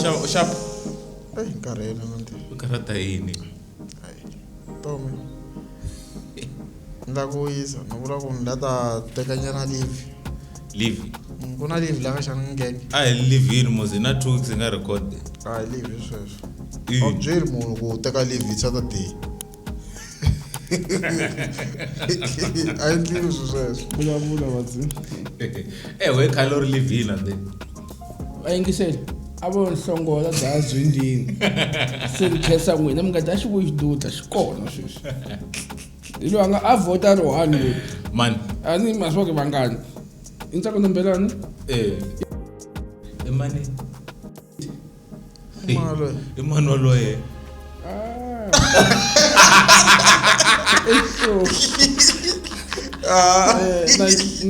xava u xava eyi eh, nkarhi yena mande u karhata yini tomi ni la ku wisa ni vula ku ni la ta tekanyana livi leave mm, ku na leave laka xana ngenge a hi leave yini mos hi na two weeks hi nga record a hi leave hi sweswo a byeli munhu ku teka leave hi saturday a yi ndliwi swi sweswo vulavula vazi ewe eh, khale u ri leave yini ande a yingiseli a vo nhlongola daya zwindini se ni khensa n'wina mi nga dya xivuyi xidudla xi kona sweswi hi loyi a nga a vhota ri one loyi mani a ni ma swi vake vangani i ntsako nombelani eh i mani I mani waloye? i mani waloye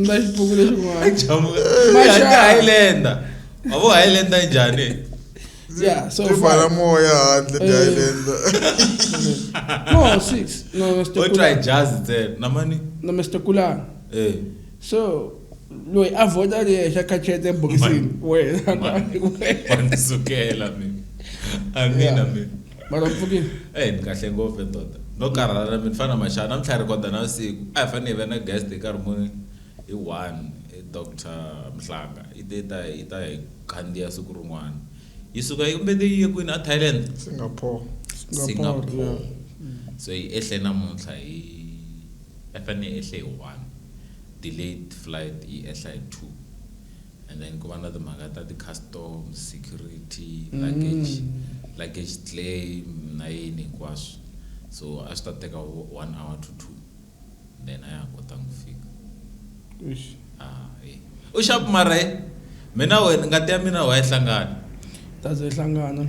na xipuku lexin'wana Chamu- Masha. Highlander. Wavo Highlander njhani? Yeah, so Tifala moya handle eh. dialenda. No, six. No, Mr. Kula. try jazz there. Na mani. No, Mr. Kula. Eh. So loyi a vhota leyi xa kachete ebokisini wenanisukela mi amina mi mara mpfukile e eh, ni kahle ngopfu ndoda no karhala na mi ni fana na maxana na mi tlhela rikoda na vusiku a hi fanele hi va na guest hi karhi muni Hi one, Doctor Mhlanga yi te ta yi ta hi khandziya siku rin'wana. Yi suka yi mbete yi ye kwini? A Thailand? Singapore. Singapore. So yi ehle namuntlha hi a fane yi ehle hi one, delayed flight yi ehla hi two and then ku va na timhaka ta ti-custom, security, luggage, luggage claim na yini hinkwaswo. So a swi ta teka vo one hour to two. then a ya ha kotanga ku fika ah, eh. u xapu mara eh, mina wena ngati ya mina wa yi hlangana taze yi hlangana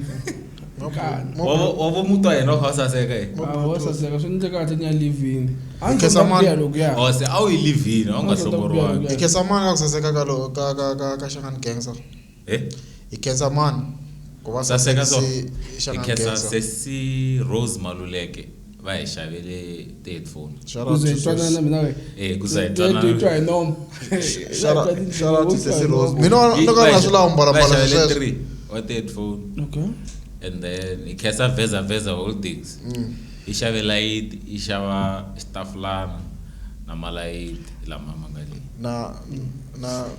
wavo mutu wa yena kha u saseka eh. ah, wa saseka swi ndle kahle ni ya livini oh, se a wu yi livini a wu nga hlongoriwangi ikhesamani ka ku saseka ka xangani gangster he hi khensa mani ku va saseka so hi khensa sesi rose maluleke va hi xavele ti-headphone wa ti-headphone and then hi khensa veza veza holdings mm. hi xave layiti hi xava xitafulana na malayiti lama ma nga leyi na na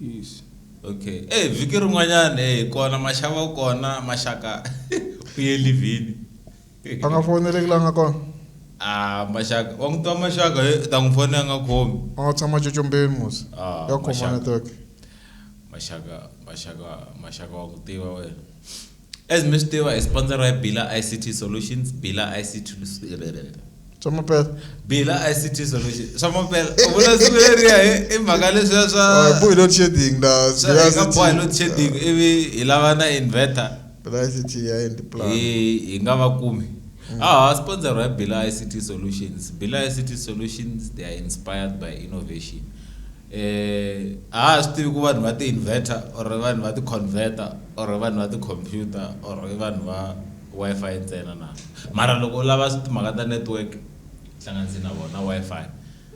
Yes. Okay. Hey, vhiki rin'wanyana hey kona maxava kona maxaka u ye livhini. A nga foneleki la nga kona. Ah, maxaka. Wa n'wi twa maxaka he ta n'wi fona a nga khomi. A nga tshama cocombeni musi. Ah, ya khoma network. Maxaka, maxaka, maxaka wa ku tiva wena. As mi swi tiva, hi sponsoriwa hi Bila ICT Solutions, Bila ICT swa mapela bila ict solution swa mapela u vula siku leriya i mhaka leswiya swabohi load shedding lahinga bohi load shedding ivi hi lava na inverter hi nga va kumi mm. aha sponsor hi bila ict solutions bila ict solutions they are inspired by innovation Eh, a ha swi tivi ku vanhu va ti-inverter or vanhu va ti-converter or vanhu va ti-computer or i vanhu va wi-fi ntsena na mara loko u lava timhaka ta network hlanganise na vona wi-fi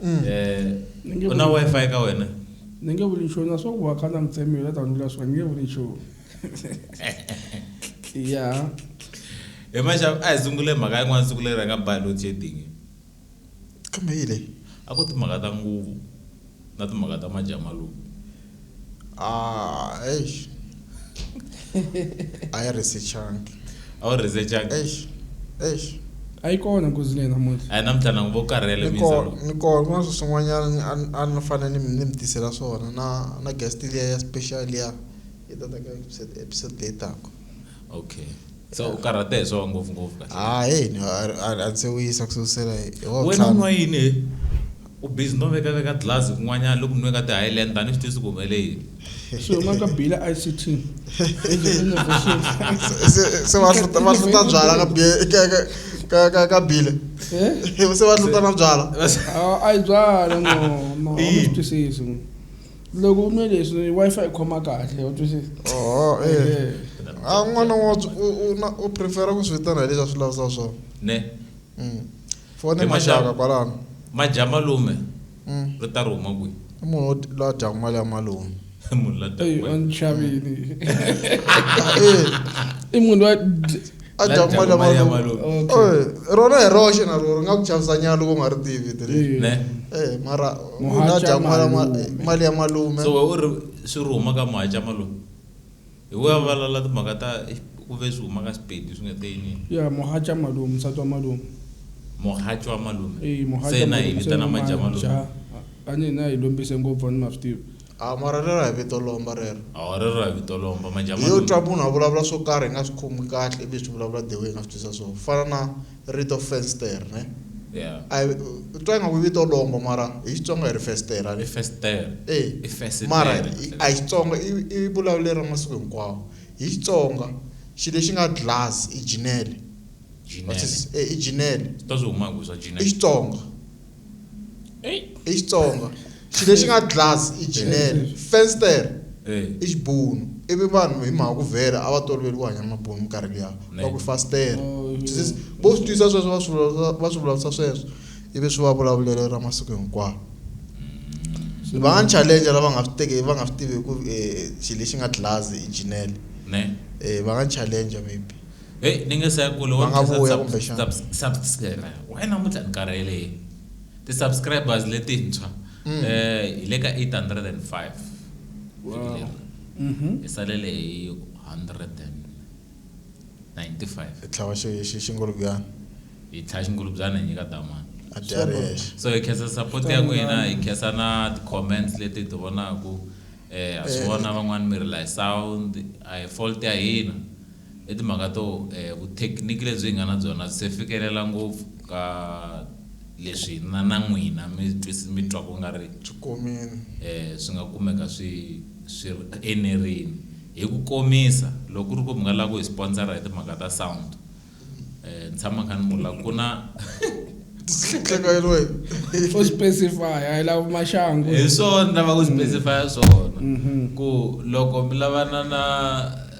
mm. eh, u na wi-fi ka wena ni nge vuli nchumu na swa ku va kha na mitsemiyo la tandula swa ni nge vuli nchumu ya hi maxavu a hi sungule mhaka yin'wana siku leri a nga biology edingi Kambe yile a ku timhaka ta nguvu na timhaka ta majamaluku. A eish a yi research-angi. A wu research-angi? Eish eish. A yi kona nghozi leyi namuntlha. A hi namuntlha na ku va ku karhele Ni ko Mister. ni ko kun'wana swi swin'wanyana a ni a ni fane ni mi ni mi tisela swona na na guest liya ya special liya yi ta ta ka episode leyi taka. Okay. so u karhate hi swona ngopfungopfu kahle ha hey no, a- a- a ndzi se wisa ku susela hi hi wa wena u ntlhanu. nwa yini he u busy no veka veka glass kun'wanyana loko nwe ka ti-highland tani swi tisi ku humele yini so yin'wana ka bila ict Se- se- se va hluta va hluta byala ka bi- ka- ka- ka- ka- ka bile se va hluta na byala a yi byala no no a Ina. mi swi twisisi loko u nwe leswi wi-fi yi khoma kahle u twisisa oho e eh. a ah, n'wana wa u prefera ku swi vitana hi leswi a swi lavisa swona ne mm. fone maxaka kwalano maja malume mm. ri ta ri huma kwihi i munhu la dyaku mali ya malume munhu la dyaku mali i munhu wa a La dyaku dyaku mali ya mali ya malume. malume Okay. Eh, rona hi roxe na rona ri nga ku chavisa nyana loko u nga ri tivi vito leri Eh, ne Eh, mara u Muhaca nga dyaku mali ya ma- malume. mali ya malume so we u ri swi ri huma ka muhaca malume hi we a valala timhaka ta eh, ku ve swi huma ka xipedi swi nga te yini ya muhaca malume nsati wa malume muhaca wa malume Eh, muhaca se na hi malume, se vitana na maja malume maja. a ni hina hi lombise ngopfu a ni ma swi tivi A wu marhele ra hi vito lomba rero. A wu marhele ra hi vito lomba. Majamani. Hi yo twa munhu a vulavula swo karhi hi nga swi khomi kahle ivi hi swi vulavula the way hi nga swi twisisa swona. Ku fana na rito fenstere ne. Yeah. A hi u twa ingaku i vito lomba mara hi Xitsonga hi ri festere a ne. I festere. E. I fesitere. Mara a hi Xitsonga i i vulavulelo ra masiku hinkwawo. Hi Xitsonga xilo lexi nga glass i jinele. Jinele. E i jinele. Swi ta swi huma hi ku swa jinele. I Xitsonga. i Xitsonga xi lexi nga glass i jinele fenster i xibunu ivi vanhu hi mhaka ku vhela a va toloveli ku hanya mabunu minkarhi liya va ku fastere vo swi twisa sweswo va swi va swi vulavurisa sweswo ivi swi va vulavulelo ra masiku hinkwawo va nga ni challenge lava nga swi teki va nga swi tivi ku xilo lexi nga glass i jinele va nga challenge maybe. Hey, ni nge se kule Va nga vuya kumbexana. why namuntlha ni karhele yini ti-subscribers letintshwa eh hi le ka 805 vhiki leri hi salele hi 195 Hi tlhava xi xi xingulubyana. hi tlhaya xingulubyana hi nyika damani A dya a ri yexe. so hi khensa support ya n'wina hi khensa na ti-comments leti hi ti vonaku eh ha swi vona van'wani mi ri la hi sound a hi fault ya hina i timhaka to vuthekiniki lebyi hi nga na byona byi se fikelela ngopfu ka leswi hina na n'wina mi mi twa ku nga ri byi komile swi nga kumeka swi swi ri enerini. Hi ku komisa loko ku ri ku mi nga lava ku hi sponsor-a hi timhaka ta sound ni tshama ni kha ni vula ku na u specify-a hi lava maxangu. Hi swona ni lavaka ku specify-a swona ku loko mi lavana na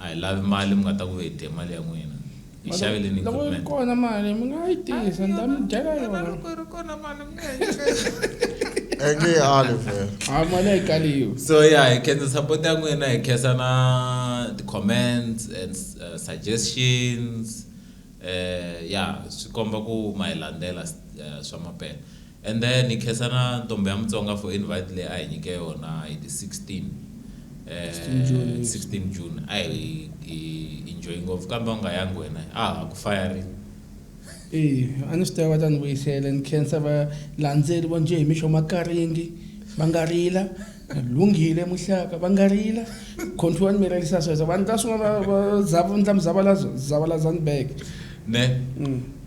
A hi lavi mali mi nga ta ku hi dye mali ya n'wina. Hi xavele ni Loko yi ri equipment. kona mali mi nga yi tisa ni ta mi dyela yona. Loko yi ri kona mali mi nga hi nyika yona. Ange yi ali vhele. A mali a yi kaliwi. So yeah, hi khensa support ya n'wina, hi khensa na ti-comments and uh, suggestions. Eh yeah, swi komba ku ma hi landzela uh, swa mampela. And then hi khensa na ntombhi ya Mutsonga for invite leyi a hi nyike yona hi ti 16 16 June. 16 June a hi hi enjoy ngopfu kambe u nga yangi wena a ha ku fayari Eh, a ni swi tiva va ta ni vuyisela ni khensa valandzeri vo njhe hi mixo makaringi va nga rila lunghile muhlaka va nga rila control ni mi ririsa sweswo vanhu ta swin'wana va- va zava- ni ta mi zavala- zavalazani back ne Mm.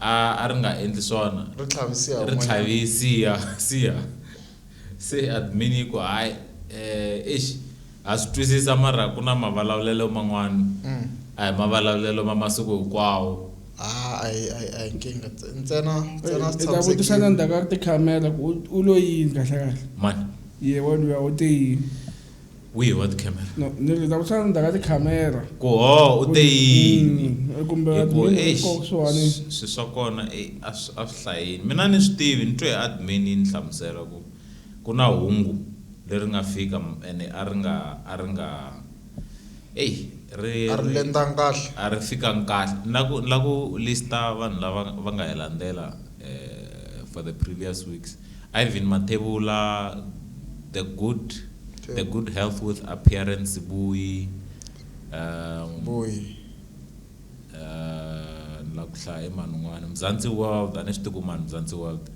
a a ri nga endli swona Ri tlhavisiha ri kun'wanyana. tlhavisiha siha se admin yi ku hayi eh eish ha swi twisisa mara ku na mavalavulelo man'wana Mm. a hi mavalavulelo ma masiku hinkwawo Haa a hi a hi a hi nkingha ntse- ntsena ntsena swi Ndzi ta vutisa na tshamisekile. ndzhaku ka tikhamera ku u- u lo yini kahlekahle? mani Yehe waluya u te yini? wihi wa tikhamera No, ni ri ta ku xana ndaka tikhamera kuho u te yini Mm, kumbe Hi ku, admin eish, ko kusuhani. s- swi swa kona eh, a swi a swi hlayini mina ni swi tivi ni twe admin yi ni hlamusela ku ku na hungu leri nga fika m- ene a ri nga a ri nga eyi ri a ri lendanga kahle a ri fikanga kahle ni la ku ni la ku lista vanhu lava va nga hi landzela for the previous weeks. Irvin Mathebula, the good, okay. the good health with appearance Bui. Um, Bui. Uh, la ku hlaya eman'wani mzansi world a ni swi tiku mani mzansi world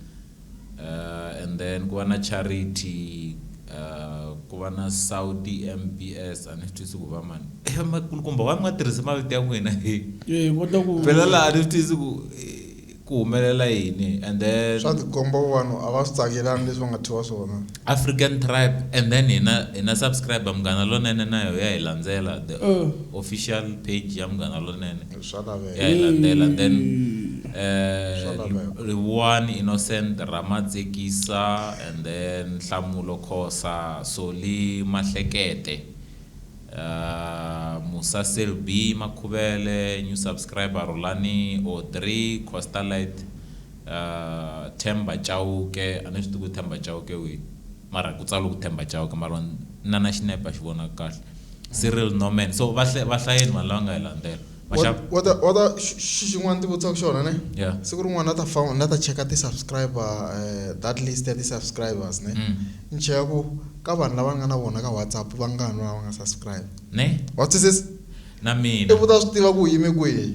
uh, and then ku va na charity uh, ku va na saudi mbs a ni swi twisi ku va mani eh, makulukumba wa ni nga tirhisi mavito ya n'wina phela laha a ni swi twisi ku eh, ku humelela yini and then. Swa tikomba vanhu a va swi tsakelanga leswi va nga thyiwa swona. African tribe and then hina hina subscriber Munghana Lonene na yoho ya hi landzela the official page ya Munghana Lonene Swa laveka. ya hi landzela then Swa eh laveka. Rivuwani Innocent Ramatsekisa and then Nhlamulo Khosa Solly Mahlekete. Musa Selby Makhuvele new subscriber Rhulani Audrey Coastalite Themba Chauke a ni swi tivi ku Themba Chauke i wihi mara ku tsariwe ku Themba Chauke mara na na xinepe a xi vonaki kahle Cyril Norman so va hlayeni vanhu lava nga hi landzela. xixin'wana ndzi vutisaka xona ne siku rin'wana na ta fa na ta cheka ti-subscriber eh, that list ya ti-subscribers ne mm. ni cheka ku ka vanhu lava nga na vona ka whatsapp va ngani lava nga subscribe ne wa twisisa na mina ivuta swi tiva ku yime kwihi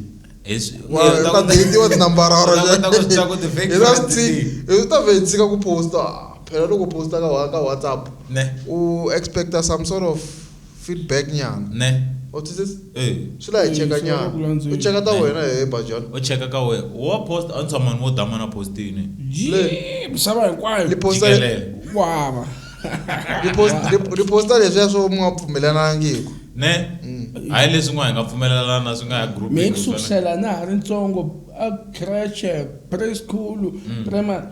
ta vhe tshika ku posta phela loko posta ka whatsapp u expecta some sort of Feedback nyana. Ne. Wa twisisa? E. Swi la hi cheka Swi lava ku nyana. landzula. U cheka ta Ne. wena hehe Bajani. O cheka ka wehe. Wa post a ni tshama ni vo damu a na posti ne. Yee misava hinkwayo. Ni posta Jikelele. Ku hava. ni post- ni- ni posta leswiya swo mi nga pfumelanangiku. Ne. Hayi leswi n'wa hi nga pfumelelana swi nga ya group. Mehe ku sukusela na ha ri ntsongo a creche, preschool, primary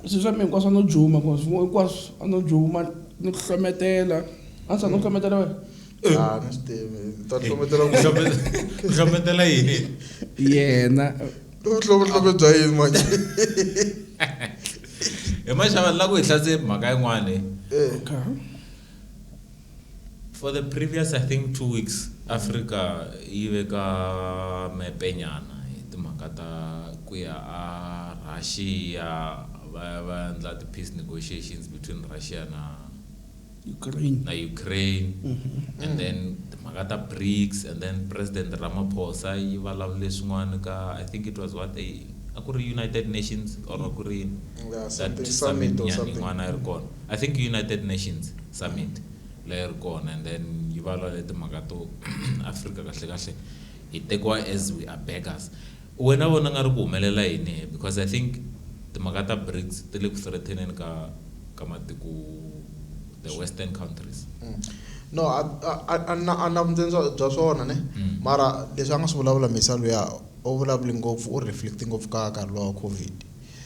Swi swa mina hinkwaswo a no juma cause hinkwaswo a no juma ni ku hlometela a swa no hlometela wena ah, ni swi tivi ta hlometela ku hlometela yini yena vuhlobehlobe bya yini manje hi maxava la ku hi hlatse mhaka yin'wana eh. For the previous I think two weeks Africa yi ve ka mepenyana hi timhaka ta ku ya a Russia va ya va ya endla ti-peace negotiations between Russia na Ukraine. na Ukraine and then timhaka ta BRICS and then President Ramaphosa yi vulavule swin'wana ka I think it was what a a ku ri United Nations or a ku ri yini Yeah, that something summit summit or nyana something. yin'wana a yi ri kona I think United Nations. Summit leyi ri kona and then yi valale timhaka to Africa kahle kahle hi tekiwa as we are beggars. Wena u vona nga ri ku humelela yini he because I think timhaka ta Brics ti le ku threateneni ka ka matiko the western countries. No a a a na a na vuntsindza bya swona ne mara leswi a nga swi vulavula Misa luya u vulavule ngopfu u reflect ngopfu ka nkarhi luwa wa Covid.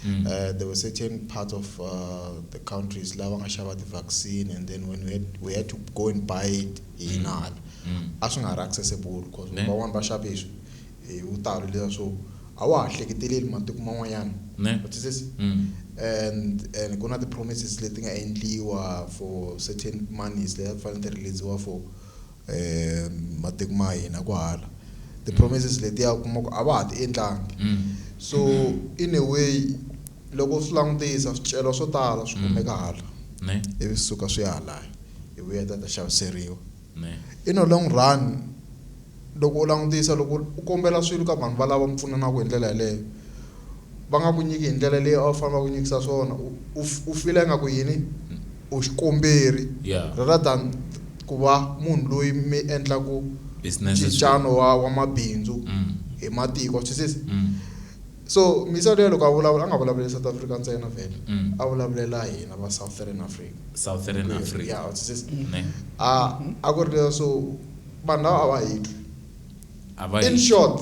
Mm. Uh, there were certain parts of uh, the countries lava nga xava ti-vaccine and then when we had, we had to go and buy it hi mm. inala mm. a swi nga ha ri accessible because van'wani va xave hi hi vutalo leswa swo a wa ha hleketeleli matiko man'wanyana and and ku na ti-promises leti nga endliwa for certain monies leyi a ku fanele ti releasiwa for e matiko ma hina kwahala ti promises letiya u kuma ku a va ha ti endlangi mm. so in a way loko swi langutisa swicelo swo tala swi mm. kumeka hala ivi swi suka swi ya halaya hi vuya ta ta xaviseriwa in a long run loko u langutisa loko u kombela swilo ka vanhu valava mi pfunanaka hi ndlela yeleyo Va nga ku nyiki hi ndlela leyi a wu fanele va ku nyikisa swona. U, u, u fila ingaku yini? U xikomberi, Yeah. rather than ku va munhu loyi mi endlaku Businesses with. ncincano wa, wa mabindzu Mm. hi matiko. Wa swi twisisa? Mm. So, Misa luya loko a vulavula, a nga vulavuleli South Africa ntsena vhele. Mm. A vulavulela hina va Southern Africa. Southern Hinkwerhu. Africa. Yeah, wa twisisa? Ne. A, a ku ri leswo vanhu lava a va hi twi. A va In hi. short.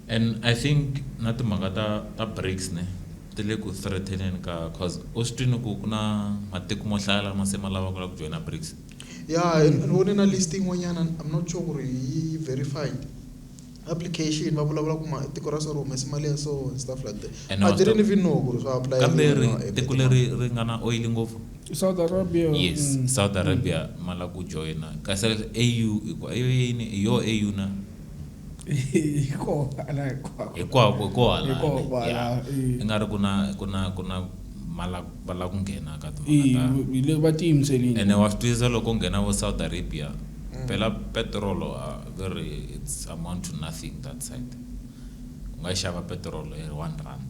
And I think na timhaka ta ta Brics ne ti le ku threateneni ka coz u swi twini ku ku na matiko mo hlaya lama se ma lava ku la ku joyina Brics. Yeah and ni vone na list yin'wanyana I'm not sure ku ri yi yi verified application va vulavula ku ma tiko ra so ri humese mali ya so and stuff like that And I wa swi tiva didn't even know ku ri swa apply-eliwa kambe ri na app tiko leri tin'wana. ri nga na oil ngopfu I South Arabia. yes Mm. South Arabia ma la ku joyina kasi AU hi ku a yo yini hi yo AU na. hikwako hi ko hala i nga ri ku na ku na ku na va lava ku nghena ka timhakaene wa swi twisisa loko nghena vo south arabia phela petirolo a va ri it's amount to nothing that side u nga xava petirolo hi one rand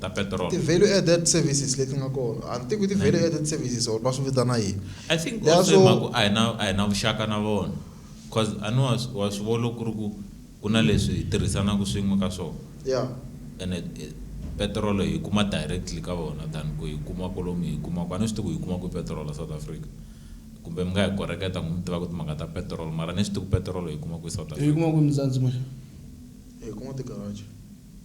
ta petrol ti value added services leti nga kona a ni tivi ku ti value added services or va swi vitana yini i think Leswo- also mhaku a hi na a hi na vuxaka na vona cause a ni wa swi- wa swi vona ku ri ku ku na leswi hi tirhisanaka swin'we ka swona ya ene eh, petrol hi kuma directly ka vona than ku hi kuma kolomu hi kuma ku a ni swi tivi ku hi kuma ku petrol south africa kumbe mi nga hi koreketa n'wi mi tiva ku timhaka ta petrol mara ni swi tivi ku petrol hi kuma ku south yi africa kuma ku muzanzi manje hi kuma tigaraji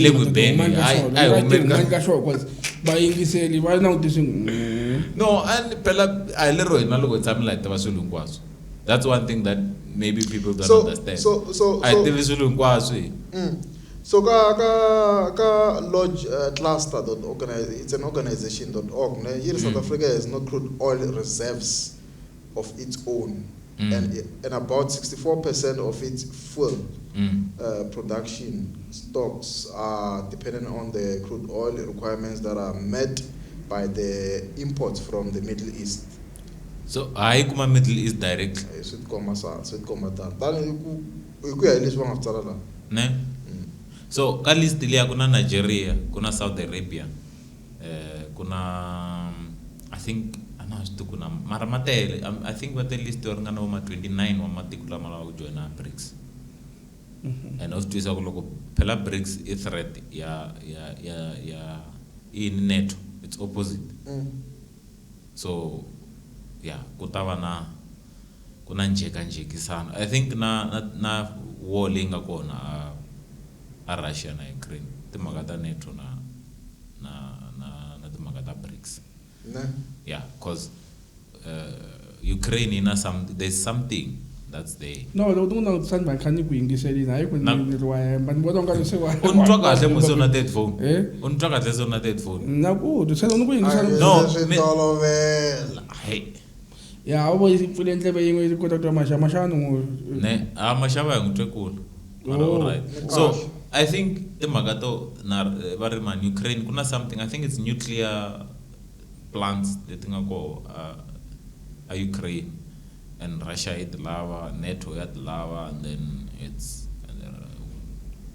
le ku beni vayingiseli va langutise mm. no and phela a hi lero hina loko hi tshamela hi tiva swilo hinkwaswo that's one thing that maybe people don't so, understand so, so, a hi tivi swilo hinkwaswo hi mm. so ka ka ka lodge uh, cluster dot organize it's an organization dot org ne yi ri south mm. africa has no crude oil reserves of its own mm. and, and about 64% of its fuel mm. uh, production stocks are dependent on the crude oil requirements that are met by the imports from the Middle East. So hayi kuma Middle East direct. Eh, swi tikomba sa swi tikomba tani tani hi ku hi ku ya hi leswi va nga swi tsala laha. Ne? Mm. So ka list liya ku na Nigeria ku na Saudi Arabia. eh, ku na i think a na swi tiku na mara ma tele i think va te list yo ringana vo ma 29 wa matiko lama lava ku joyina brics mhm. and u swi twisa ku loko phela brics i threat ya ya ya ya i neto it's opposite mm. So ya ku ta va na ku na njhekanjhekisano. I think na na na war leyi nga kona a a Russia na Ukraine i timhaka ta NATO na na na na timhaka ta BRICS. Na. Ya coz Ukraine yi na some there's something that's there. No loko ni ku langutisani mhani kha ni ku yingiselini hayi ku ni ni ri wa hemba ni vona u nga ri se wa. U ni twa kahle musi u na that phone? U ni twa kahle se u na that phone? Na ku twa se ni ku yingisela. No swi tolovela. Hey. Ya u vo yi pfule ndleve yin'we yi kota ku twa maxava maxava ni n'wi. Ne a maxava hi n'wi twe kula. Mara u right. So I think timhaka to na va ri mhani Ukraine ku na something I think it's nuclear. Plants leti nga koho a a Ukraine and Russia yi ti lava, NATO ya ti lava and then it's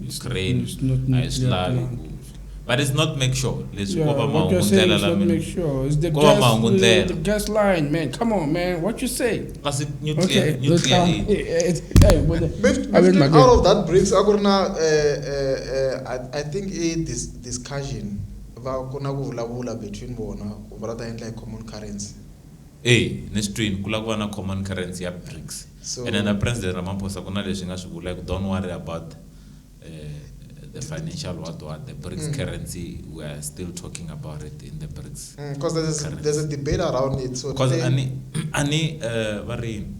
Ukraine it's not a yi swi lavi ku but it's not make sure leswi ko va mahungu ndlela lama ko va mahungu ndlela gas line man come on man what you say kasi nuclear okay. nuclear eh, eh, eh, out of that bricks a ku ri na i think a discussion va ku na ku vulavula between vona ku va la ta endla hi common currency. E, ni swi twini ku la ku va na common currency ya Brics ene na So. President Ramaphosa ku na leswi nga swi vula hi ku don't worry about the financial what what the Brics currency we are still talking about it in the Brics Mm, cause there's, currency. there's a debate around it so Cause today- a ni a ni va ri yini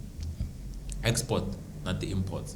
export na ti imports.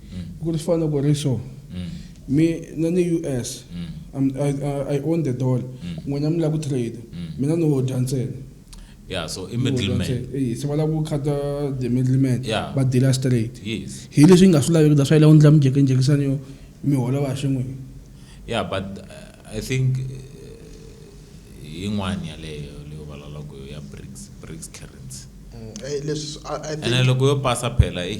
mm. ku ri fana ku ri so mm. mi na ni u s mm. I, I, I own the dollar mm. n'wina mi lava ku trade mm. mina ni wo dya ntsena yeah so i middleman eh se wala ku khata the middleman yeah. ba dealer straight yes hi leswi nga swi laveki da swa ile u ndla mjeke njekisani yo mi hola va xin'we yeah but uh, i think uh, yin'wana yaleyo leyo valaloko ya BRICS BRICS currency mm, eh, leswi i think loko yo pasa phela eh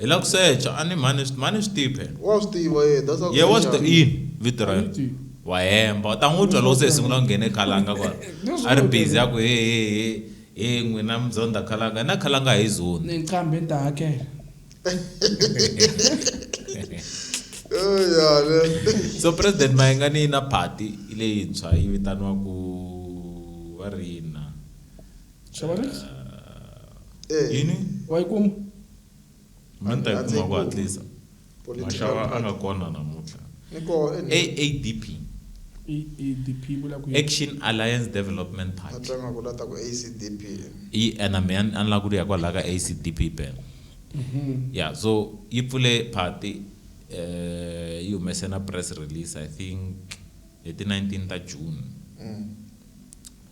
Hi la ku secha a ni mhani swi mhani swi tive. Wa swi tiva ye that's how. Ye wa swi tiva yini vito ra yena. Wa hemba u ta n'wi twa loko se hi sungula ku nghene khalanga kwala. A ri busy a ku he he he he n'wina mi zondha khalanga hina khalanga a hi zondhi. Ni qambhi ni ta hakela. So President Mayengani yi na party leyintshwa yi vitaniwaku va ri yini na? Xavanix? Eh, Yini? Wa yi kuma? Mani ta yi A ndzi yi kuma ku kumi. hatlisa. Political Maxava a party. nga kona namuntlha. Ni koho eNew- AADP, I i DP yi vula ku yini? Action Alliance Development a Party. twa nga ku la ta ku ACDP. Yi ena me a ni a ni lava ku ri ya kwalaho ka ACDP bene. Yeah, so yi pfule party eh yi humese na press release I think hi ti 19 ta June. Mm.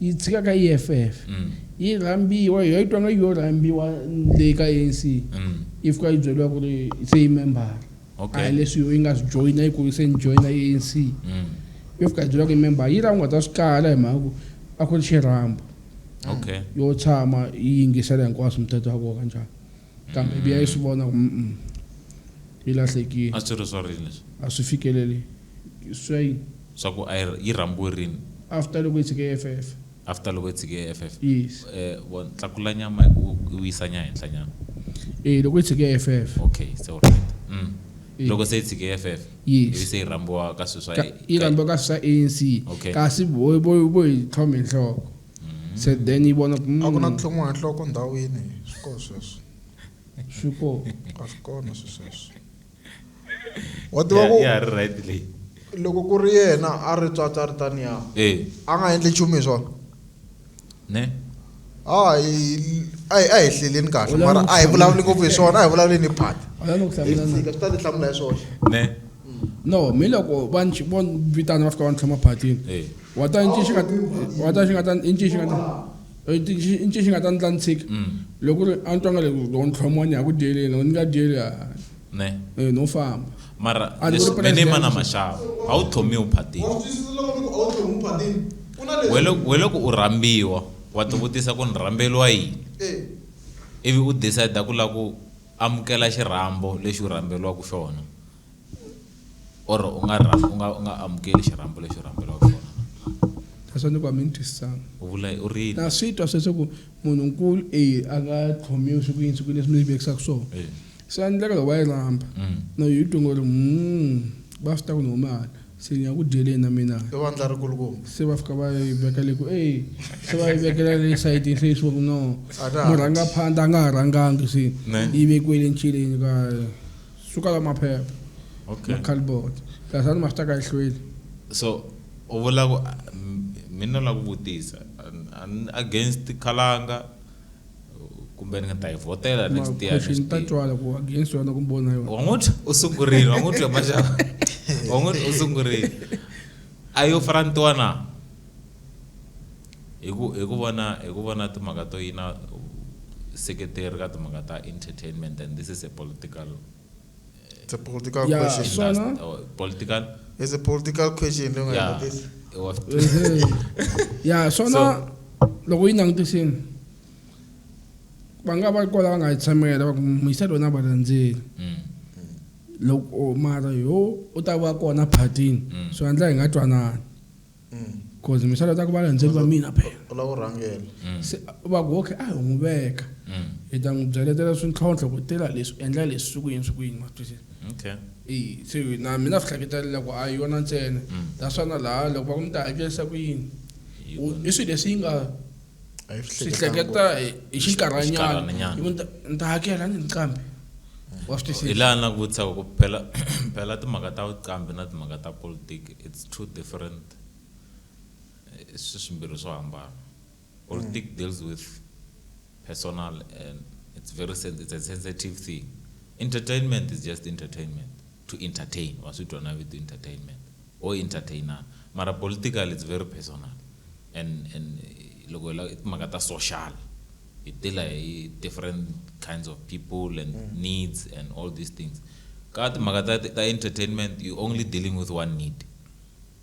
Yi tshika ka EFF. Yi rhambiwa, hi twa nga yo rhambiwa le ka ANC. Yi fika yi byeriwa ku ri se yi membara. Okay. A hi leswi yo yi nga swi joyina yi ku se ni joyina ANC. Yo fika yi byeriwa ku yi membara. Yi ra u nga ta swi kala hi mhaka ku a ku ri xirhambo. Okay. Yo tshama yi yingisela hinkwaswo muthetho wa koho kanjhani. kambe mm. biya yi swi vona ku mm yi lahlekile a swi ri swa rini leswi a swi fikeleli swa yini swa ku yi rhambiwe rini after loko yi tshike eff after loko yi tshike eff yes um tlakula nyama u yisa nya henhla nyana e loko yi tshike eff okay se u right mm. loko se yi tshike eff ivi se yi rhambiwa ka swilo swa yi rhambiwa ka swilo swa anc kasi vo yi tlhome nhloko mm. se then yi vona mm. a ku na tlhomiwa hi nhloko ndhawini swi kona sweswo swi kona a swi kona swi sweswo wa tiva ku ya ri right leyi loko ku ri yena a ri tswatsa ri taniya eh. a nga endli nchumu hi swona ne hayi a hi a hi hleleni kahle mara a hi vulavuli ngopfu hi swona a hi vulavuleni hi phata hi fika swi ta ti hlamula hi swoxe ne no mi loko va ni vo vitana va fika va ni tlhoma phatini eh. wa ta inci xi nga wa ta xi nga ta inci xi nga ta inci xi nga ta ni tla ni tshika mm. loko ri a ni twanga leswi loko ni tlhomiwa ni ya ku dyeleni loko ni nga dyeli ne eh, no famba mara me ni mana maxava a wu tlhomiwi phatini we loko u rhambiwa wa tivutisa ku ni rhambeliwa yini eh. ivi u decide ku lava ku Amukela xirhambo lexi u rhamberiwaka xona or u nga u nga u nga amukeli xirhambo lexi u rhamberiwaka xona na. Sweswo ni ku a mi ni twisisanga. U vula u ri yini? Na swi twa sweswo ku munhu nkulu e a nga khomiwi swi ku yini swi ku yini leswi mi vekisaka swona. Swa endleka loko va yi rhamba na yi twa ngo ri va swi ta ku ni huma hala. Se ni ya ku dyeleni na mina. I vandla ri kulukumba. Se va fika va yi veka le ku e se va yi vekela le sayitini se leswi va ku no murhanga phanda a nga ha rhangangi se yi vekiwe le ncileni ka suka la maphepha okay macalbot lasani ma swi ta ka ehlweni so u vula ku mina la ku vutisa against khalanga kumbe ni nga ta yi vhotela next year question ta twala ku against yona ku bona yona wa n'wi u sungurile wa n'wi twa maxava wa n'wi u sungurile a yo farantiwa na hi ku hi ku vona hi ku vona timhaka to yina seketeri ka timhaka ta entertainment and this is a political It's a political yeah, question. So last, no? oh, political? It's a political question. Don't yeah. This. It was yeah, so, so now, loko yi langutisini va nga va kwala va nga yi tshamela va ku muyisa lona va landzeli mm. loko mara yo u ta va kona phatini mm. swi endla hi nga twanani cause mi sala ta ku va landzeli va mina phela u lava ku rhangela mm. se va ku okay a hi n'wi veka mm. hi ta n'wi byaletela swintlhontlho ku tela leswi endla leswi swi ku yini swi ku yini ma swi twisisa okay i se na mina swi hleketalela ku a yona ntsena mm. ta swana laha loko va ku mi ta hakelisa ku yini i swilo leswi yi nga a yi swi hleketa hi xinkarhanyana ni ta hakela ni nqambi wa swi twisisa hi laha na ku vutisa ku phela phela timhaka ta vuqambi na timhaka ta politiki it's two different eh, swi swimbirhi swo hambana politiki mm. deals with personal and it's very it's a sensitive thing entertainment is just entertainment to entertain wa switwa na vito entertainment ho entertainer mara political it's very personal and and loko hi la i timhaka ta social hi dila hi different kinds of people and needs and all these things ka timhaka ta ta entertainment you only dealing with one need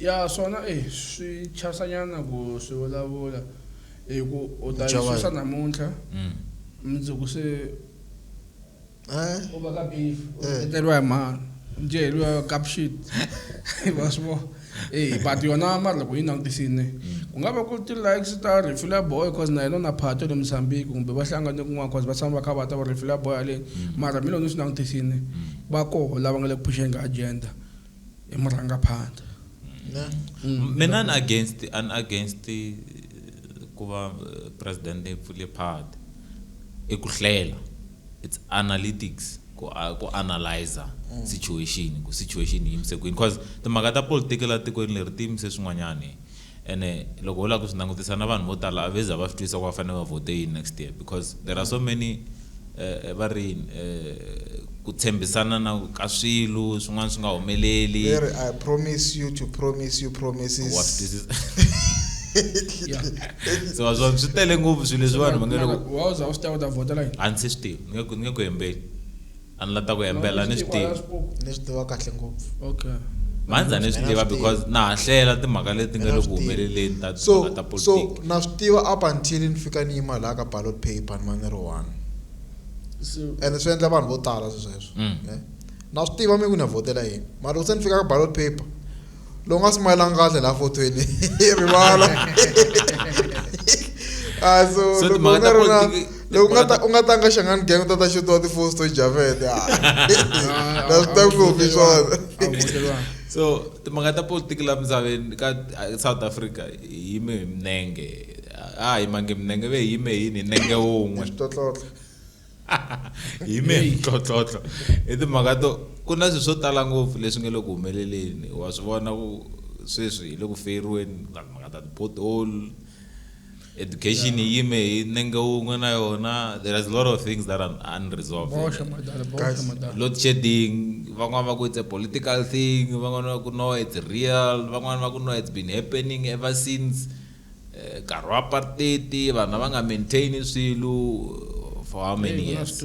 Ya swona e swi chasa nyana ku swi vulavula hi ku u ta yi susa namuntlha mundzuku se u va ka beef u tekeriwa hi mhani u dyeriwa cup shit wa swi vona e but yona mara loko yi langutisini ku nga va ku ti-likes ta refula boy cause na yena na phato le Mozambique kumbe va hlangane kun'wana cause va tshama va kha va ta va refula boy haleni mara mi loko ni swi langutisini va koho lava nga le ku phuxeni ka agenda i murhangaphandle mm. mina ni against an against eh, ku va eh, president leyi pfule party i ku hlela it's analytics ku ku analyze mm. situation ku situation yi yimise kwini because timhaka ta politiki la tikweni leri ti yimise swin'wanyani Ene loko ho lava ku swi langutisa na vanhu vo tala a ve za va swi twisisa ku va fanele va vhote yini next year because there are so many eh, va ri yini eh, ku tshembisana na ka swilo swin'wana swi nga humeleli Ve ri, I promise you to promise you wa swi promises. twisisa Yeah. se wa swona swi tele ngopfu swilo leswi vanhu va nge loko Wa za u swi tiva u ta vhota la yini? a ndzi se swi tiva ni nge ku- ni nge ku hembeli A ni la ta ku hembela ni swi tiva. Ni swi tiva kahle ngopfu. Okay. Mhandzi a ni swi tiva because na ha hlela timhaka leti nga le ku humeleleni ta timhaka ta politiki. So, na swi tiva up until ni fika ni yima laha ka ballot paper ni va ni ri one. And swi endla vanhu vo tala sweswo. Mm. Na swi tiva mina ku ni ya vhotela yini. Mara loko se ni fika ka ballot paper, lowu nga smileanga kahle la fotweni hi rivala a so So loko timhaka ta u nga ri na- politiki- loko u nga ta- u nga tanga xangani gang u ta ta xutiwa tifosi to javete na swi ta ngopfu hi swona so timhaka ta politiki la misaveni ka a- south africa hi yime hi minenge a hi mange minenge ve hi yime yini hi nenge wun'we Tlotlotlho. hi me ntlhotlhotlho i timhaka to ku na swilo swo tala ngopfu leswi nge le ku humeleleni wa swi vona ku sweswi hi le ku feriweni mhaka ta ti-pothole education yi yime hi nenge wun'we na yona there is a lot of things that are unresolved load shedding van'wana va ku it's a political thing van'wana va ku no it's real van'wana va ku no it's been happening ever since Nkarhi wa apartheid vanhu a va nga maintain swilo for how many years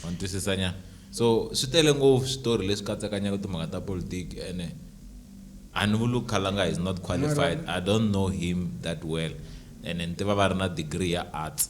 wa ni twisisa nyana so swi tele ngopfu switori leswi katsekanyaka timhaka ta politiki ene a ni vuli khalanga is not qualified i don't know him that well ene ni tiva va ri na degree ya arts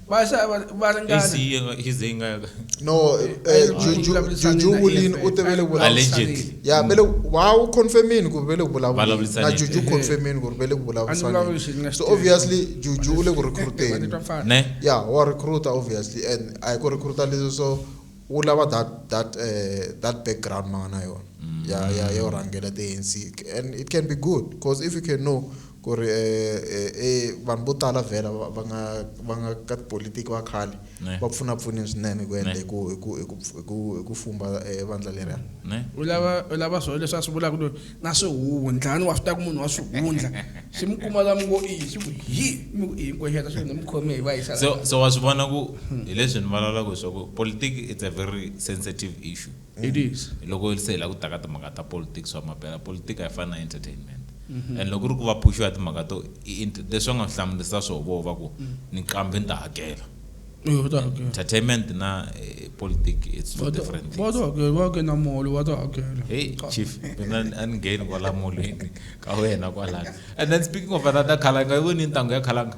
va xa va va Hi ringana siye nga- hi ze yi nga yaka. no eh, eh, Ju- Ju- Ju- vulavurisani Juju na Wulin EFF. u te ve le vulavula- Allegedly. ya ve le wa wu confirmini ku ri ve le ku vulavuleni Vulavurisani. na Juju u confirmini ku ri ve le ku A ni vulavuli xi nga vulavurisani xi so tirhi. obviously Juju u le ku recruiteni Vanitwa mfana. Ne? ya wa recruita obviously and a hi ku recruita leswi so wu lava that that eh, that background ma nga na yona ya ya yo rhangela ti ANC and it can be good because if you can know Ku ri e, e, e, vanhu vo tala vhela va, va nga, va nga ka tipolitiki va khale Ne. va pfuna pfunile swinene ku endla Ne. hi ku, hi ku, hi ku, hi ku, hi ku fumba e, vandla leriya. Ne. U lava, u lava swona leswi a swi vulaka loyi, na swihundla, ni wa swi tiva ku munhu wa swihundla, xi mi kuma la mi ngo i, xi ku hi, mi ku i hinkwexeta xi ku ni mi khome hi va yisa la. So, so wa swi vona ku hi leswi ni vulavulaka hi swa ku politiki it's a very sensitive issue. It is. Loko se hi la ku ta ka timhaka ta politics wa mampela, politika a yi fani na entertainment. And loko ku ri ku va phuxiwa timhaka to i int-, leswi va nga hlamurisa swo vo va ku ni qambe ni ta hakela. Eya va ta hakela. Entertainment na politic it's two different things. Va ta hakela, va ke na mall va ta hakela. Hey chief, mina a ni ngheni kwala molweni ka wena kwalano. And then speaking of another khalanga, yi voni intangu ya khalanga?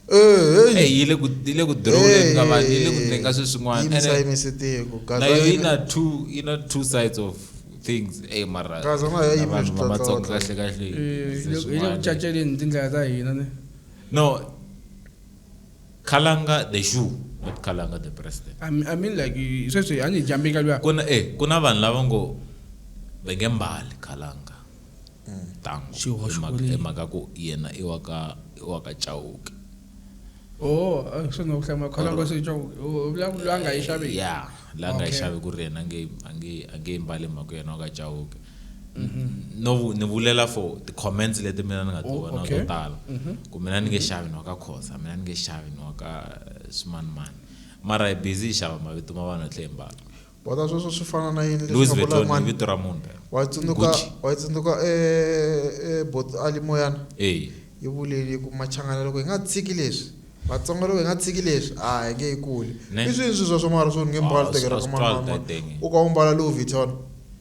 Eh, hey, yi le ku yi le ku drone ka vanhu yi le ku ndleni ka swilo swin'wana yimisa yimisa tiko na yo yi na two yi na two sides of things ey mara kaza nga ya yimisa vanhu va matsonga kahle kahle eh, yi le ku caceleni tindlela ta hina ne no khalanga the shoe not khalanga the president i mean, I mean like sweswi a ni jambi ka luya ku na eh ku na vanhu lava ngo va nge mbali khalanga Ntango. Xihoxo ku ri yini? Hi mhaka ya ku yena i wa ka i wa ka Chauke. Oh, swi nga ku hlaya makhwela ngo se Chauke. U vula ku la nga yi xaveki. Yeah, la nga yi xavi ku ri yena nge a nge a nge yi mbali hi mhaka yena wa ka Chauke. No ni vulela for ti comments leti mina ni nga ti vona to tala. Ku mina ni nge xavi ni wa ka Khoza, mina ni nge xavi ni wa ka swimanimani. Mara hi busy hi xava mavito ma vanhu hi tlhe hi mbala. Bota sweswo swi fana na yini Louis leswi nga Vuitton i mani? vito ra munhu phela. Wa yi tsundzuka Gucci. wa yi tsundzuka e e bot ali moyana Eya. yi vuleni yi ku machangana loko hi nga tshiki leswi Vatsonga loko hi nga tshiki leswi a hi nge yi kuli Ne. i swini swi swa swa mara swo ni nge Ah, mbali swi- tekela swi ka twala manana titenge. u ka u mbala Louis Vuitton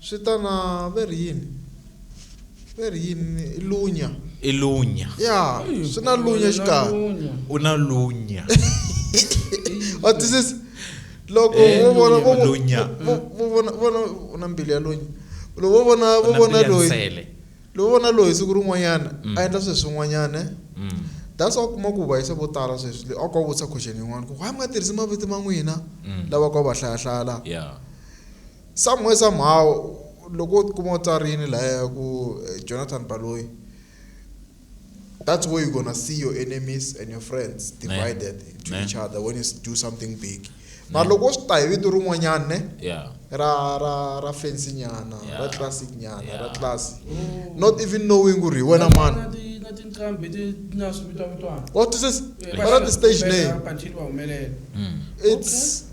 Swi ta na, va ri yini? Va ri yini? I lunya. I lunya. Ya, swi na lunya xikarhi. U na lunya. Wa twisisa? Loko eh, vo vona vo lunya. Vo vona vona u na mbilu ya lunya. Loko vo vona vo vona loyi. Loko vona loyi siku rin'wanyana mm. a endla sweswi swin'wanyana. Eh? Mm. That's why kuma ku vayisa vo tala sweswi le a ku vutisa question yin'wana ku why mi nga tirhisi mavito ma n'wina mm. lava ku va hlayahlaya la. Yeah. Somehow somehow loko wo ti kuma u tsarini lahaya ku Jonathan Baloyi that's where you gonna see your enemies and your friends divided ne, to ne. each other when you do something big mara loko swi ta hi vito rin'wanyana ne yeah. ra ra ra fancy nyana yeah. ra classic nyana yeah. ra classy mm. not even knowing ku ri hi wena mani what is this yeah. what are the stage name mm. it's okay.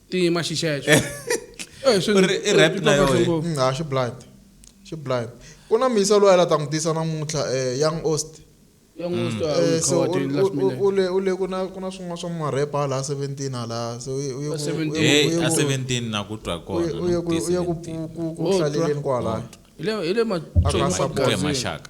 tima xixexo i rap na yoho mm, ha xi blind xi blind ku na misa loyi la ta n'wi tisa namuntlha um young ost ule ule ku na ku na swin'wana swa marepa hala a seventeen hala se a seventeen na ku twa kona u ye ku hlaleleni kwalaya hi le maxaka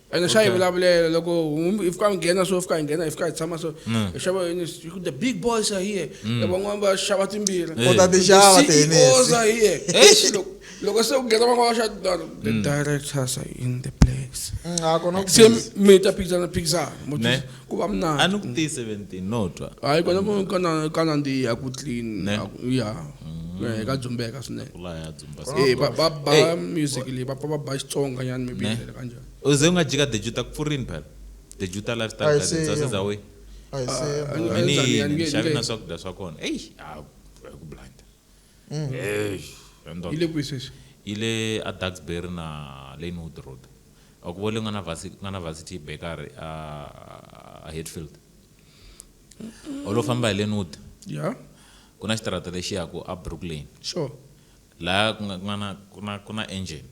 ene swa yi vulavulela loko humbi hi fika hi nghena so fika hi nghena hi fika hi tshama so mm. hi xava yini the big boys are here mm. van'wana va xava timbirhi eh. kota tixava tihenesi are here eh, loko se ku nghena van'wana va xa tindano the mm. directors are in the place se mi ta phikizana phikizana ku va mna a ni ku tiyi 17 no twa hayi kona ku kana kana ndi ya ku clean Ne? a ku- ya Mm. Eh, ka dzumbeka swinene kula ya dzumba Eh, ba ba ba Eh. music leyi va pfa va ba xitsonga nyana maybe Ne? ndlela kanjhani uze u nga jika dejuta ku pfurini phela dejuta lifestyle Ayi, gardens se- saseza we a hi se Ah, ah, Mini Tanzania, yini? nge- Nxavi nge- na swakudya swa kona eyi a ku blanda Mm. Eish, he ndoda. yi le kwihi sweswi yi le aduxbury na lanewood road a ku vole nga na vasi- nga na varsity bakery a a hatfield u lo famba hi lanewood ya ku na xitarata lexi yaku a brooklyn sure laha ku nga ku nga na ku na ku na engine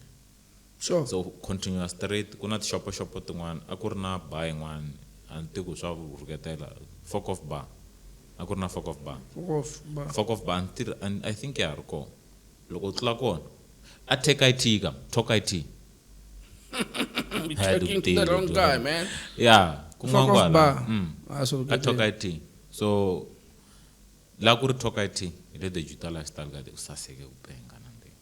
Sure. So continue straight ku na tixopoxopo tin'wana a ku ri na bar yin'wana a ni tivi ku swa rhuketela Fok Of Bar a ku ri na Fok Of Bar. Fok Of Bar. Fok Of Bar a ni tirhi a I think ya ha ri kona loko u tlula kona a Tech IT ka Talk IT You're talking to the wrong guy man. Yeah kun'wana Fok Of kwala Bar mm a swi a Talk rhuketeli. IT so la ku ri Talk IT hi le the Jutalifestyle ka the u saseke ku penga.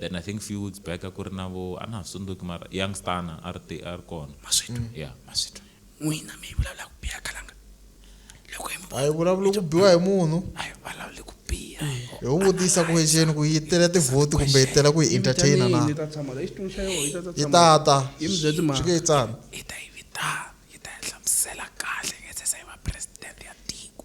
Then I think few weeks back a ku ri na vo a na ha swi tsundzuki mara youngstana a ri te a ri kona maswito ya maswito n'wina mi vulavula ku biha khalanga loko hi mi a yi vulavuli ku biwa hi munhu a hi vulavuli ku biha hi wu vutisa ku exeni ku yi tela tivhoti kumbe yi tela ku yi entertaina na Yi ta tshama la exitulu xa yona yi ta ta yi tshama tata Yi mi byela timhaka. swi nge yi tsana yi ta yi vitana yi ta yi hlamusela kahle nge se se yi va president ya tiko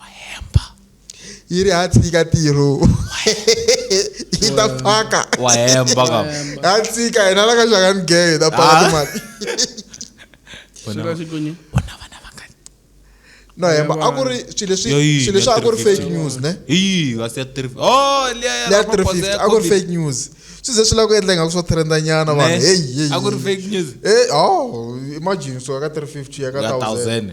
wahemba yi ri ha tshika tiro yi ta phaka wahemba ka ha tshika yena la ka xaka ni geye ta phaka ah. timali vona vana va nga no hemba a ku ri swilo leswi swilo leswi a ku ri fake news ne hi kasi ya tiri oh liya ya liya tiri fifty a ku ri fake news swi ze swi lava ku endla ingaku swo trenda nyana vanhu heyi heyi a ku ri fake news eh oh imagine so ya ka tiri fifty ya ka thousand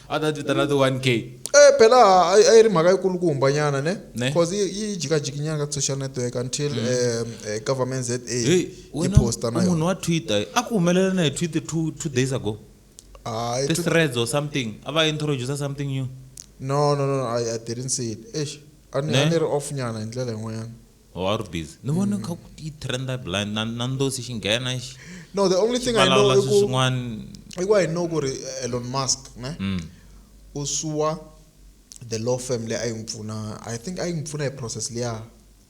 a ta ti vitana ti-one k Eh, phela a a yi ri mhaka yikulukumba nyana ne Ne. Mm. cause yi yi jikajikinyana ka social network until um, eh, government za yi hey wena posta na u munhu yona wa twitter a ku humelela na hi twitter two, two days ago Hayi, ti tu- threads or something a va introduce something new no no no i I didn't see it eish a ni Ne. a ni ri off nyana hi ndlela yin'wanyana Oh, a ri busy ni vone kha ku yi trenda blind na na ndosi xi nghena xi no the only thing i know valawula i swi ku swin'wana i ku i know ku ri eh, elon musk ne Mm. u suwa the law firm leyi a yi n'wi pfuna i think a yi n'wi pfuna hi process liya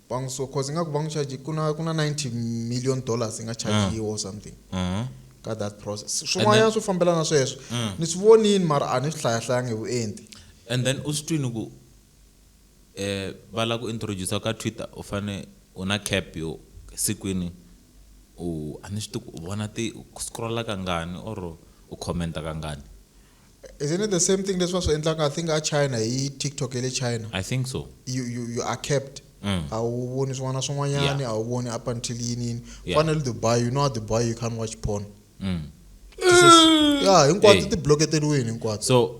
va n'wi suwa cause ingaku va n'wi charge ku na ku na 90 million dollars yi nga Ah. chargiwa or something Uh-huh. ka that process swin'wanyana swo fambelana sweswo Mm. ni swi vonini mara a ni swi hlayahlayangi hi vuenti and then u swi twini ku va lava ku introduce-a ka Twitter u fane u na cap yo sikwini u a ni swi tivi ku u vona ti u scroll-a kangani or u comment-a kangani. Isn't it the same thing leswi va swi endlaka I think a China hi TikTok ya le China? I think so. You, you, you are capped. A wu voni swin'wana na swin'wanyani, Yeah. a wu voni up until yini yini. U Yeah. fanele Dubai, you know a Dubai you can't watch porn. Ya hinkwato Hey. ti bloketeriwini hinkwato. So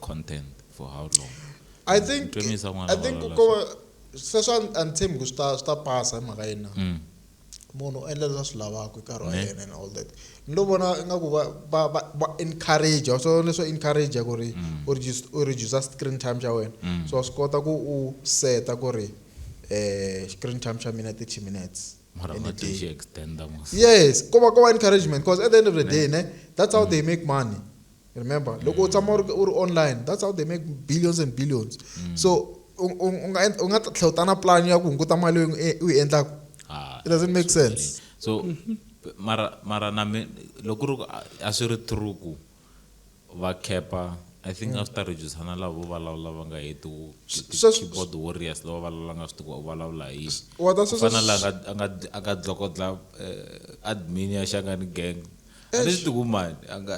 content for how long i think Ntwemisa n'wana i think valala ko sweswi a- a ni tshembi ku swi ta swi ta pasa hi mhaka yini na Mm. munhu u endla leswi a swi lavaka hi nkarhi wa Ne. yena and all that ni lo vona ingaku va va va va encourage so leswo encourage ku ri Mm. u reduce- u reduce screen time xa wena Mm. so wa swi kota ku u seta ku ri eh screen time xa mina 30 minutes mara in a ngathi day. xi extenda mos yes ko va ko va encouragement because at the end of the day ne that's how they make money remember mm. loko u tshama u ri online that's how they make billions and billions mm. so u nga u nga tlhela u ta na plan ya ku hunguta mali u yi endlaka ah, it doesn't make sense so mara mara na me loko ri a swi ri true ku va kepa i think mm. after reducana lavo vulavula va nga heti keyboard warriors lava vulavula nga swi tiku u vulavula hi fana la a nga dlokodla eh, admin ya xangani gang a ni swi tikumani a nga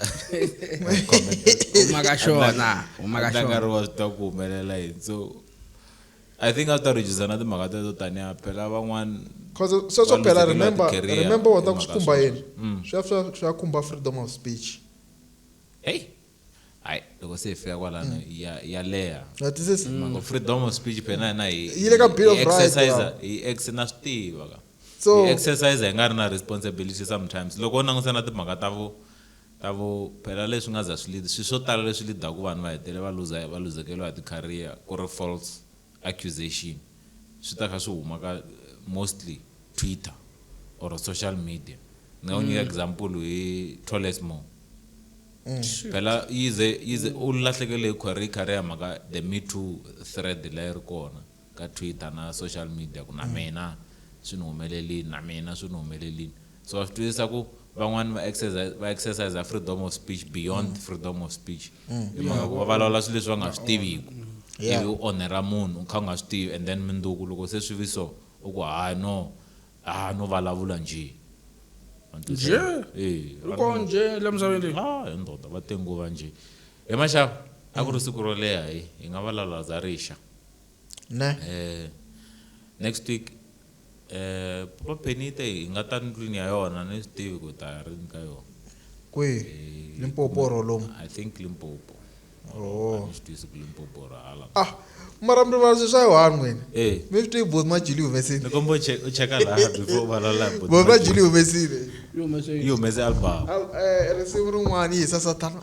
huma ka xona huma ka xona nkarhi wa swi ta ku humelela yini so i think a swi ta reducer na timhaka teto tanihi phela van'wana cause se swo phela remember remember wa ta ku swi khumba yini mm. swi ya swi ya khumba freedom of speech hey hayi loko se hi fika kwalano ya ya leha na twisisa mhango freedom of speech phela hina hi Yi le ka Bill of hi Rights, exercise lawa. hi ex na swi tiva ka So- hi exercise hi nga ri na responsibility sometimes loko u langusa na timhaka ta vo ta vo phela leswi nga za swi lead swi swo tala leswi leadaku vanhu va hetele va luza va luzekeriwa hi ti-career ku ri false accusation swi ta kha swi huma ka mostly Twitter or social media ni nga ku nyika example hi Tolesmore phela yize yize u lahlekele hi career career mhaka the me too thread leyi ri kona ka Twitter na social media ku na mina swi ni humelelini na mina swi ni humelelini So wa swi twisisa ku van'wani va exercise va exercise freedom of speech beyond freedom of speech. Hi mhaka ku va vulavula swilo leswi va nga swi tiviku. Yeah. Ivi u onhera munhu u kha u nga swi tivi and then mundzuku loko se swi vi so u ku ha no ha no vulavula njhe. Wa ni twisisa? Njhe? Eya. U Va ri kona njhe la misaveni leyi? Ha he ndoda va te nguva njhe. He maxava a ku ri siku ro leha hi hi nga vulavula za rixa. Ne. Next week. E, Papa Penite hi nga ta ndlwini ya yona ni swi tivi ku ta rini ka yona. Kwihi? E, Limpopo or lomu? I think Limpopo. Oh. A ni swi tisi ku Limpopo or hala. Ah, mara mi rivala swilo swa Yohani n'wina. E. Mi swi tivi Both Majuli yi humesile. Ni komba u che- u cheka laha before u valala hi Both Majuli yi humesile. Yi humese album. Al- eh, Risimu rin'wana yi hisa Sathana.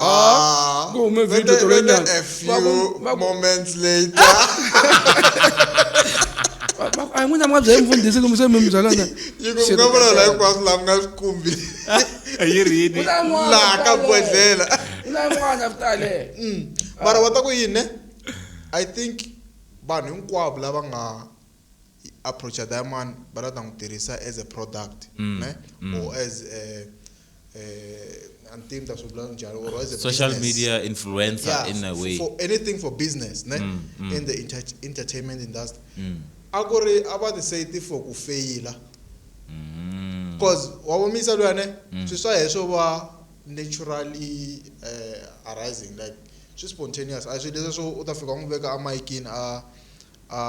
Ah, Go make video whether- to whether Radiant. a few Bago- bago- moments later. ayi n'wina mi nga byela mfundhisi kumbe se mi mi byela na yi ku nga vula la hinkwaswo laha mi nga swi kumbi yi rini laha ka bodlela na n'wana vitale mara va ta ku yini ne i think vanhu hinkwavo lava nga hi approacha diamond va la ta n'wi tirhisa as a product mm. ne mm. or as a, uh, ni ta swi vula njhani or as a social business. media influencer yeah, in a way for anything for business ne mm, mm. in the inter entertainment industry mm. a ku ri a va tisayiti for ku feyila mm. cause wa vomisa luya ne mm. swi swa heswo va naturally uh, arising like swi spontaneous a swi leswi swo u ta fika u n'wi veka a mayikini a a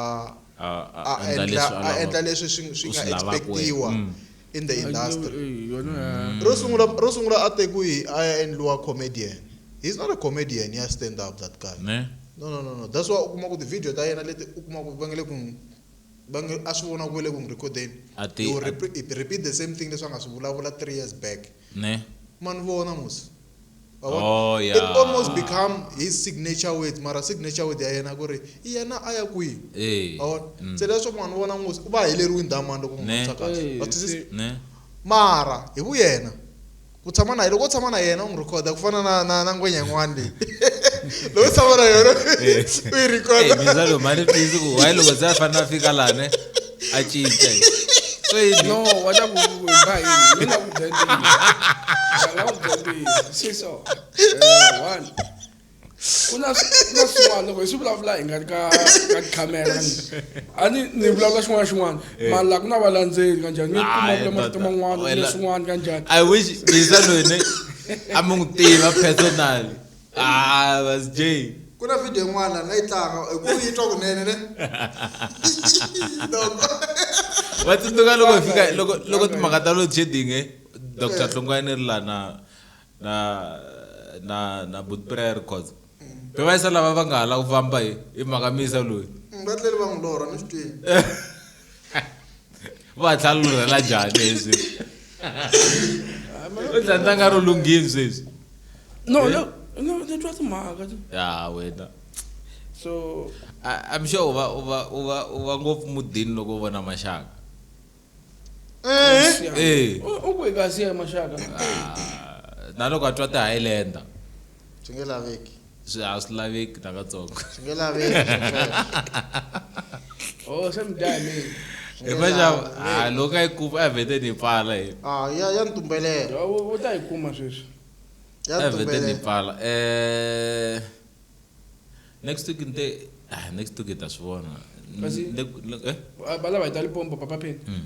a a a endla endla leswi a a lava- endla leswi swi swi u nga swi lavaka wena. expectiwa Mm. in the industry Ay, yona ya- ro sungula ro sungula a te ku hi a ya endliwa comedian he's not a comedian ya stand up that guy ne no no no no that's why u kuma ku ti-video ta yena leti u kuma ku va nge le ku n'wi- va nge a swi vona ku ve le ku n'wi recordeni A ti- He will a- repeat, repeat the same thing leswi a nga swi vulavula three years back Ne. ma ni vona mos Wavona? Oh, yeah. it almost become his signature words mara signature word ya yena ku ri i yena a ya kwihi Eh. Wavona? Mm. se leswaku ma ni vona mos u va heleriwi ndhawu mani loko Ne. n'wi kahle Eh, Wa twisisa? se- Ne. mara hi vu yena ku tshama na loko u tshama na yena u n'wi rhikhoda ku fana na na na ngwenya yin'wana leyi loko u tshama na yona u yi Eh, rhikhoda mizalo mani please ku hayi loko se a fanele a fika lane a cinca Ceyini. no wa ta ku ku ba yini mi nga ku byela ntiyiso nga ku byela ntiyiso si so Eh, one ku na swi- ku na swin'wana loko hi swi vulavula hi nga ri ka ka camera a ni ni vulavula xin'wana na xin'wana mara laha ku na valandzeli kanjhani mi kuma Hayi, vula marito tata. man'wana Wena- kumbe swin'wana kanjhani i wish bisa loyi ne a mi n'wi tiva personally Ah, that's Jay. ku na video yin'wana la yi tlanga hi ku yi twa kunene ne loko va tsundzuka loko hi fika loko loko timhaka ta load shedding eh, dr hlongwane ri la na na na na boot prayer records be va yisa lava va nga ha la ku famba hi hi mhaka misa loyi Mm, va tlele va n'wi lorha ni swi twile va tlhela lu rhela njhani leswi u dlandanga ro lunghini sweswi no eh? no no ni twa timhaka ya wena so i'm sure u va u va u va u va ngopfu mudini loko u vona maxaka eh eh u ku kasi ya maxaka ah, na loko a twa ti-highlander swi nge laveki swi a swi laveki nakatsongo swi nge laveki oh swi mi dya hi hi vaxava a loko a yi kuma a vhete ni pfala hi ah, ya ya ni tumbelela u ta yi kuma sweswi ya ni tumbelela ni pfala eh next week nte ah next week ta swi vona kasi eh? balava hi ta lipompo papa pheni hmm.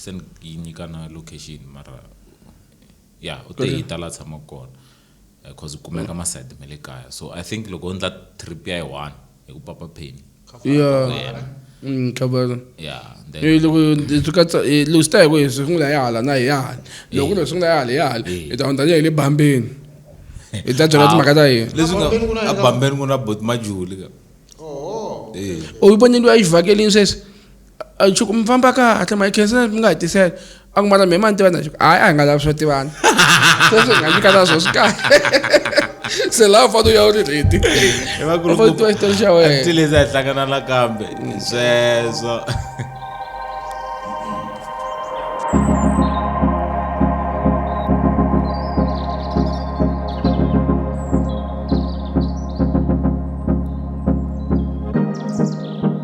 se ni yi nyika na location mara ya u te yi ta la tshama kona because eh, u kumeka masayiti ma le kaya so i think loko u ndla trip ya yi one hi ku papa pheni khabara loko swi katsa loko swi ta hi ku hi sungula ya hala na hi ya hala loko ku lo sungula ya hala ya hala hi ta hundza hi le bambeni hi ta byela timhaka ta yena leswi nga abambeni ku na bot majuli ka u yi vonile u ya yi vhakelini sweswi A Chuku mi famba kahle ma khensela mi nga hi tisela. A ku mara mi ma ni tivana Chuku. Hayi a hi nga lavi swo tivana. Sweswi hi nga nyika na swo swi kahle. Se laha u fanele u ya u ri ready. Hi va ku ri U fanele u tiva xitori xa wena. Until lezi a hi hlangana nakambe sweswo